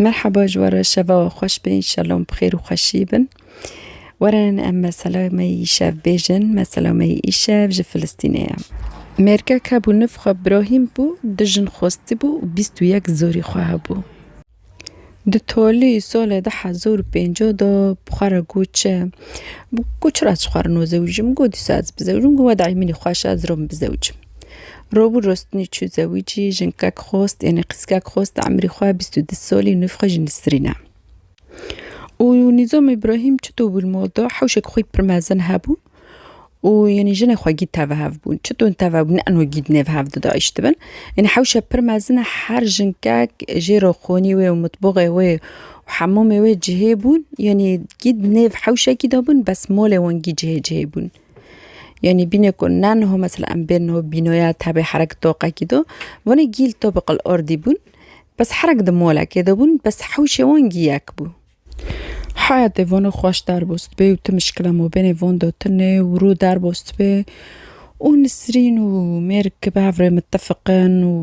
Merhaba ji we re şeva we xweş be înşallah em bi xêr û xweşî bin. Were em mesela me yî şev bêjin, mesela me yî îşev ji Filistînê ye. Mêrkek hebû niv xwe Brahîm bû, du jin xwestî bû û bîst û yek zorî xwe hebû. Di tolî solê du hezar û pêncî de bi xwe re got çi? Got çira ez ji xwe re nozewicim? Got dîsa ez bizewicim, got wede îmînî xweş e ez rûm bizewicim. Robû Rostinî çû zewîcî, jinkek xost, yenê qîzkek xost di emrî xwe bîst û du salî nûv xwe jî nisrîne. Û Nîzam Îbrahîm çito bû li mal de hewşek xwî pir mezin hebû û yenê jinê xwe gîd teve hev bûn. Çito teve bûn ne enho gîd nêv hev didayîştibin. Yenê hewşe pir mezin e her jinkek jê re xonî wê û mitboxê wê û hemamê wê cihê bûn. Yenê gîd nêv hewşekî dabûn bes malê wan gîd cihê cihê bûn. Yanî bîne ku ne niho mesela em bên niho bînoya tevê herek toqekî do wan ê gîl to bi qil ordî bûn bes herek di molekê de bûn bes hewşê wan gîyek bû. Heyetê vano xweş derbo sibê û ti mişkila mabênê van de tune û rû derbo sibê û Nisrîn û mêr ki bi hev rê mitefiqin û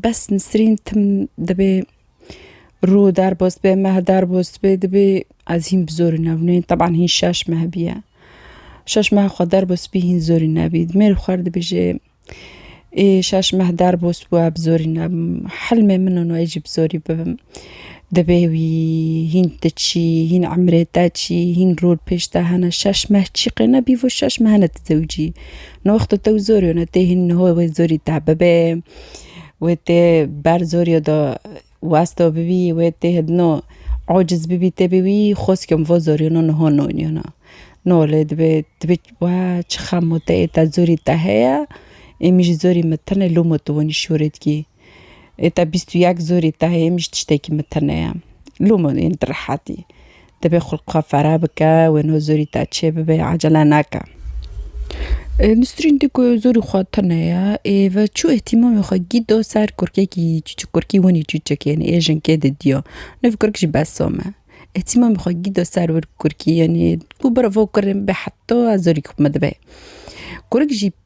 Bes Nisrîn tim dibê rû derbos dibe, meh derbos dibe, dibê ez hîn bi zorî nevneyên teban hîn şeş meh bîye. Şeş meh xwe derbos bî hîn zorî nebî. Mêr xwe xwer dibêje ê şeş meh derbos bûye bi zorî nebim. Hilmê min in wê jî bi zorî bibim. Dibê wî hîn ti çî, hîn emrê te çî, hîn rû li pêş te hene. Şeş meh çî qê ne bî vo şeş meh ne ti zewicî. Ni wexto tew zorî wene tê hîn niho wê zorî te bibê. Wê tê ber zorîyo de westo bibî, wê tê hidino ociz bibî tê bi wî xweskiyo min vo zorîyo no niho nonîyo na. No lê dibê dibê weh çi xem o te ê te zorî te heye ê min jî zorî min tune lû min tu winî şûrê dikî. Ê te bîst û yek zorî te heye ê min jî tiştekî min tune ye. Lû min yên tu rehetî. Divê xulq xwe fereh bike, wê no zorî te çêbibe, ecele neke. Nisrîn dî ku zorî xwe tune ye, ê ve çû îhtîmamê xwe gîdo ser kurkekî çûçik, kurkî winî çûçik yenî ê jinkê didiyo. Niv kurk jî besom e. Îhtîmamê xwe gîdo ser wir kurkî yenî ku biravo kurê min be heta zorî xwe min dibe. Kurk jî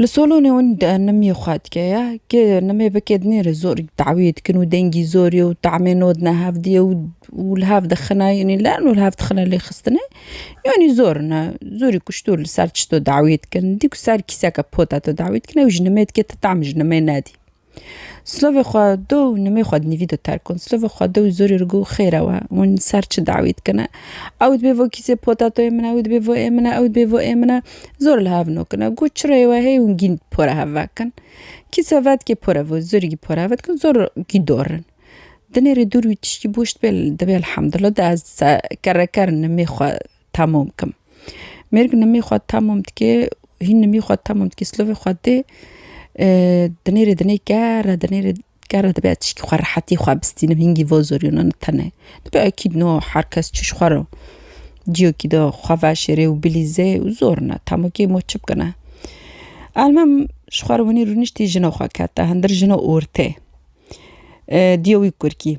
Li Solonê hûn nimî xwe dike ye kê nimê bike dinê re zor dawî dikin û dengî zor ye û tamê not ne hevdî ye û li hev dixine yanî lern û li hev dixine lê xistinê yanî zor in e zorî kuştur li ser çito dawî dikin dîku ser kîseke pota tu dawî dikin ew ji nimê dike tu tam ji nimê nedî. Silovê xwe do û nimê xwe dinivî do terk kon. Silovê xwe do û zorê ri got xêr ew e, hûn li ser çi dawî dikin e? Ew dibê bo kîsê potatoyê min e, ew dibê bo ê min e, ew dibê bo ê min e. Zor li hev nokin e. Got çirayê we heye hûn gîn pora hev vekin. Kîsa vedikê pora vê, zorê gî pora hev ve dikin zor gî dorin. Dinê rê dûr wî tiştî boş dibe, dibê elhamdulillah de ez kere ker nimê xwe. tamom kim. Mêrg nimî xwe tamom dike, hîn nimî xwe tamom dike, silovê xwe dê, dinêrê dinê ker e, dinêrê ker e dibe tişkî xwe rehetî xwe bistînim, hingî vo zorîna ne tenê. Dibe ekîd no her kes çiş xwe ro ciyokî de xwe veşêrê û bilîze û zor ne tamokê mo çi bikine. Elmam ji xwe re winî rûniştî jina xwe kete, hindir jina ortê diya wî kurkî.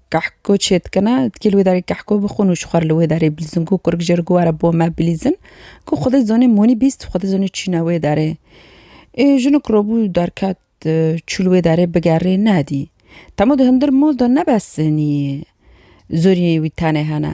Kehko çê dikine, dikê li wê derê kehko bixwin û ji xwe re li wê derê bilîzin. Ku kurik jê re ku were bo me bilîzin. Ku Xwedê zonê monî bîst, Xwedê zonê çîne wê derê. Ê jinik robû derket çû li wê derê bigerê nedî. Temo di hundir mol de ne besinî zorî wî tenê hene.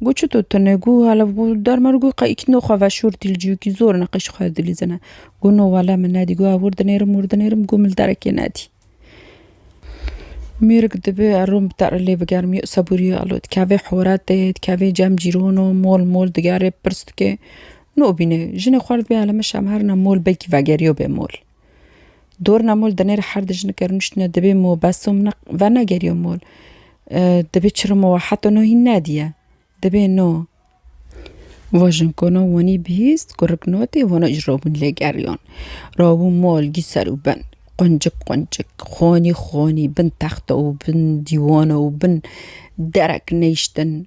Got çi to tune got halef got dermer got qe îkno xwe veşortî li ciyokî zor neqîş xwe dilîzine. Got no wele min nedî got ev wir dinêrim wir dinêrim got min li derekê nedî. Mêrik dibe erom bi terre lê bigerim yo sebûrî ya lo dikeve horetê dikeve cem cîrano mol mol digere pirs dike nobîne jinê xwe li dibe elime şem herna mol belkî vegeriyo be mol. Dorna mol dinêr her di jinik e rûniştine dibê mo beso min vernegeriyo mol. Dibê çirimo we heta no hîn nediye. Dibê no. Vo jinkona wanî bihîst ku rik natê wana ji rabûn lê geriyan. Rabûn mol gî ser û bin. Quncik quncik, xanî xanî bin texta û bin dîwana û bin derek neyştin.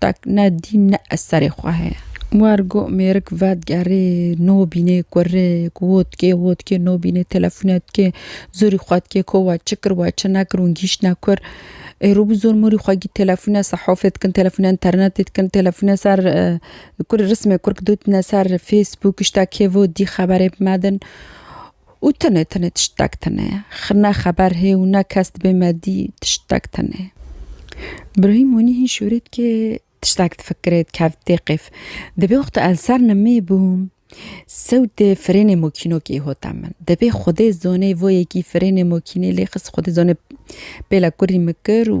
Tek ne dîn ne ez serê xwe heye. War go mêrik vedigerê no bînê kurê ku wo dikê wo dikê no bînê telefûne dikê zorî xwe dikê ko we çi kir we çi nekir hûn gîştine kur ê rû bi zor morî xwe gît telefûne sehofê dikin telefûne înternetê dikin telefûne ser kurê rismê kurk dotine ser fêsbûk îşta kêvo dî xeberê bimedin Û tenê tenê tiştek tenê. Xi ne xeber hê û ne kes dibê me dî tiştek tenê. Brahîm Honî hîn şûrêt kê tiştek difikirê dikevt tê qêf. Dibê wexta el ser nimê bûm sewtê firênê mokîno kê hota min. Dibê xwedê zonê voyekî firênê mokînê lê xist xwedê zonê pêla kurî min kir û.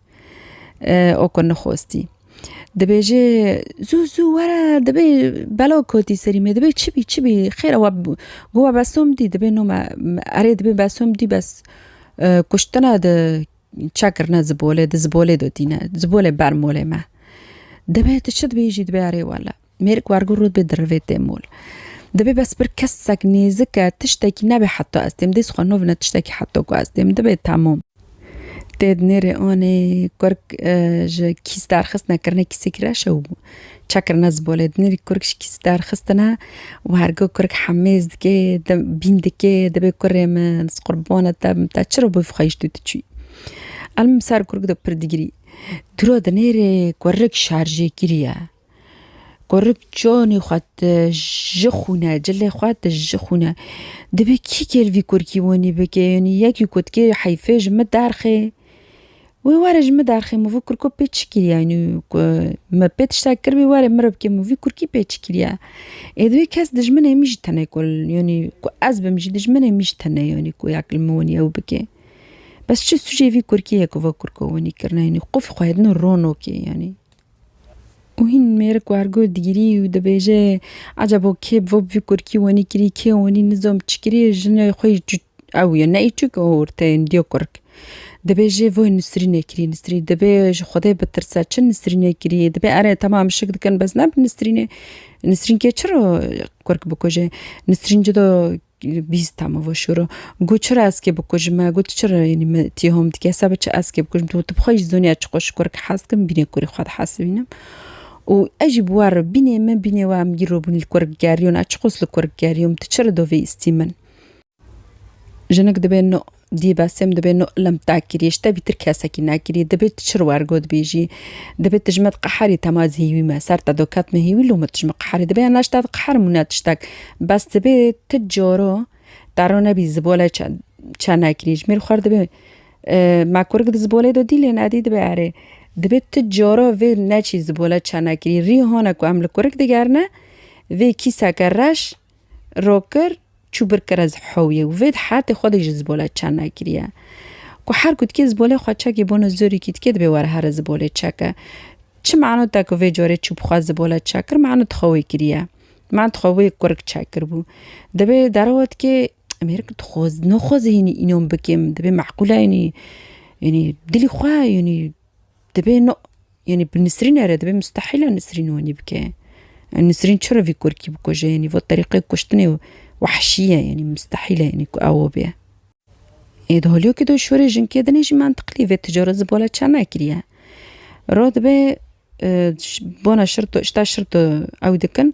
O ku nixwestî. Dibêje zû zû were dibê bela kotî serî me dibê çi bî çi bî xêr e we got we besom dî dibê no me erê dibê besom dî bes kuştina di çekirine zibolê di zibolê de tîne zibolê ber molê me. Dibê tu çi dibêjî dibê erê wele. Mêrik wergo rû bê dirivê tê mol. Dibê bes bir kesek nêzik e tiştekî nebê heta ez têm dês xwe novine tiştekî heta ku ez têm dibê temom. Tê di nêrê anê kurk ji kîs derxistine kirine kîsê kireşe û çekirine zibolê. Di nêrî kurk ji kîs derxistine wergo kurk hemêz dikê bîn dikê dibê kurê min ez qurbana te bim te çiro bif xwe tu diçûyî. Elm ser kurk de pir digirî. Diro di nêrê kurk şarjêkirî ye. Qurik canê xwe di ji xwune, cilê xwe di ji xwune. Dibê kî kêl vî kurkî wenî bike yenî yekî ku dikê heyfê ji min derxê. Wê were ji min derxê min vî kurko pê çi kiriye yenî ku min pê tiştek kiribî were min re bike min vî kurkî pê çi kiriye. Ê di wê kes dijminê min jî tune ku yenî ku ez bim jî dijminê min jî tune yenî ku ya min wenî ew bike. Bes çi sûcê vî kurkiyê ku va kurko wenî kirine yenî qufî xwe din rono kê yenî. Û hîn mêrik wergur digirî û dibêje ecebo kê bi bo vî kurkî wenî kirî kê wenî nizom çi kirî jina xwe yî ew ye neyê çi ke orteyê diya kurk. Dibêje vay nisrîne kirî nisrîn dibê ji xwedê bitirse çi nisrîne kirî dibê ere temam şik dikin bes ne bi nisrînê nisrîn kê çi ra kurk bikuje nisrîn cida Li bîst teme ve şûro. Got çira ez kê bikujim me? Got çira yanî me tîhom dike? Seba çi ez kê bikujim? Tu bi xwe jî zonî ez çi qo ji kur ki hez dikim bînê kurî xwe dihesibînim. Û ez jî bi we re bînê min bînê we em îro bûn li kur gerîyon ez çi qos li kur gerîyom tu çira dovê îstî min? Jinik dibe Dî Besêm dibê no ilim tekirî, ji te bîtir kesekî nekirî, dibê tu çir wer got bîjî. Dibê tu ji me diqeherî tema ez hêwî me, ser te do ket me hêwî lome tu ji me qeherî. Dibê hene ji te diqeherim û ne tiştek. Bes dibê tu caro te ro nebî zibolê çe çe nekirî. Ji mêr xwe re dibê me kurik di zibolê do dî lê ne dî dibê erê. Dibê tu caro vê neçî zibole çe nekirî. Rî hone ku em li kurik digerine vê kîseke reş. Roker çû bir kere zi hewiyê û vê di heyatê xwe de jî zibola çer nekiriye. Ku her ku dikê zibolê xwe çekê bono zorîkî dikê dibê were here zibolê çeke. Çi mano te ku vê carê çû bi xwe zibola çekir mano tu xwe wê kiriye. Mano tu xwe wê kurik çekirbû. Dibê derewa dikê em hêrikî tu xwe no xwe zihînî înan bikêm dibê meqûle yanî yanî dilî xwe yanî Dibê no yanî bi Nisrîn ere dibê mustehîla Nisrîn wanî bike. Nisrîn çi revî kurkî bikuje yanî vo terîqê kuştinê wahşî ye yanî mustehîl e yanî ku ew bê. Ê di holiyokê de şûrê jinkê din jî mantiqlî vê ticaret ji bala çend ne kiriye. Rod be bona şirto şita şirto ew dikin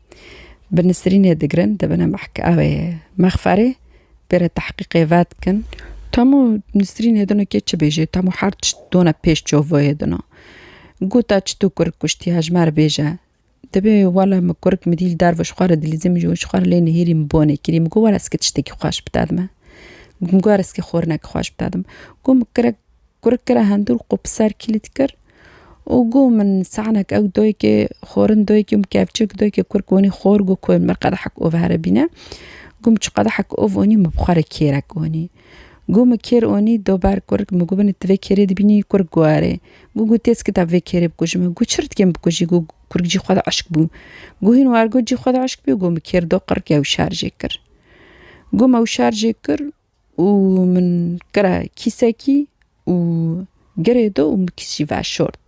Bi Nisrînê digirin dibine mehkewê mexferê bêre tehqîqê vedikin. Tamo Nisrînê dino kê çi bêjê, tamo her tişt done pêş çovoyê dino. Gota çi tu kurg kuştî hejmer bêje. Dibê wele mi kurg mi dîl derve ji xwe re dilîzê min ji xwe re lê nihêrî min bonê kirî. Mi got were ez ki tiştekî xweş bide dime. Mi got ez ki xorine ki xweş bide dim. Got mi kirek Kurik kira hindûr qû bi ser kîlî dikir û got min sanek ew doyikê xwarin doyikê min kevçik doyikê kurik wanî xwar got koyê min qedehek û here bîne got min çi qedehek û wanî min bixware kêrek wanî got min kêr wanî do ber kurik min got binê tu vê kêrê dibînî kurik got erê got got têskita vê kêrê bikujim min got çi rit kêm bikujî got kurik cî xwe de eşk bû got hîn war got cî xwe de eşk bû got min kêr do qirikê ew şerjê kir got me ew şerjê kir û min kira kîsekî û girê do û min kişî veşort.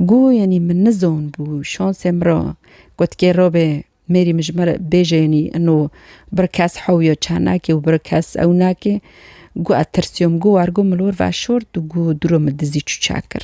Gu yenî min nizon bû şansê min ra gotikê rabê mêrî min ji min re bêje yenî ino bir kes hewya çend nake û bir kes ew nake. Gu ez tirsiyom gu war gu milor veşort û gu dûro min dizî çûçe kir.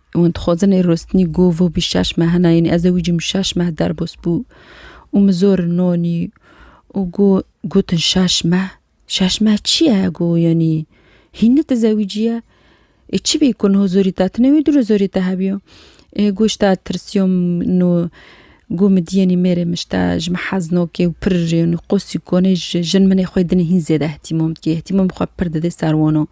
Wan dixwazinê rostinî gov û bî şeş meh hena yenî ez ê wî cim şeş meh derbos bû û min zor nonî û got gotin şeş meh şeş meh çi ye got yenî hîn nitizewîciye ê çi bî ku niha zorî te tune wî dûro zorî te hebiyo ê got ji te tirsiyom no got min dîyenî mêrê min ji te ji min hez nake û pir yenî qosî konê jin min ê xwe dinê hîn zêde îhtîmam dike îhtîmam xwe pir dide ser wan a.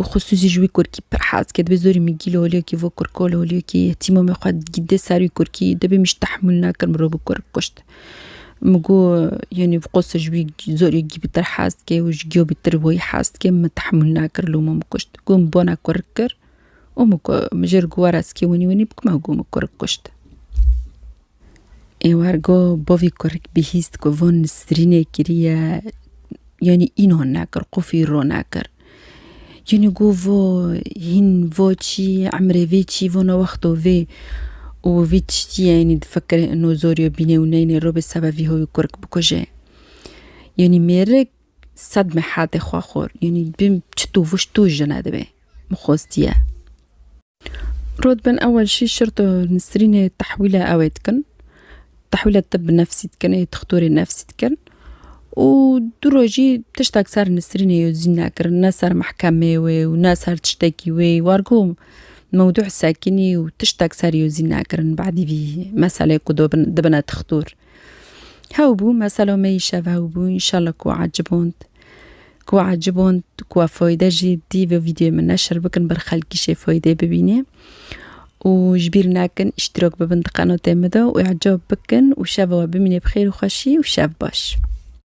û xusûsî ji wî kurkî pir hez ke dibê zorî min gîl holiyekî vo kurk ol holiyekî tîma me xwe dê ser wî kurkî dibê min jî tehmûl nekir mirov bi kurk kuşt min got yanî bi qosê ji wî zorê gî pir hez dike û ji giyo pir wî hez dike min tehmûl nekir loma min kuşt got min bona kurk kir û min got min jê re got were ez kê winî winî bikima got min kurk kuşt. Êwer go bavê kurik bihîst ku van nisrînê kiriye yanî înan nekir qufî ronekir. Yanî go vo hîn vo çî emrê vê çî vana wexto vê û vî tiştîye yanî difikire ino zoriyo bîne û neyne ro bi seba vî hoyî kurik bikuje. Yanî mêrik sed mehatê xwe xwar yanî bim çitû viştû jine dibe. Min xwestiye. Rû dibin ewel şîş şirto Nisrînê tehwîla ewê dikin. Tehwîla tib nefsî dikin ê dixtorê nefsî dikin û du rojî tiştek ser Nisrînê yo zîn nekirin ne ser mehkemê wê û ne ser tiştekî wê wargo mewdû sekînî û tiştek ser yo zîn nekirin bedî vî meselê ku dobin dibine dixtor. Hew bû meselo me îşev hew bû înşela ku eciband. Ku ecib hûn ku ev foyde jî dî vê vîdyoyê min neşir bikin ber xelkî jê foydê bibînê û ji bîr nekin îştîrok bibin di qenotê min de û ecab bikin û şeva we bimînê bi xêr û xweşî û şev baş.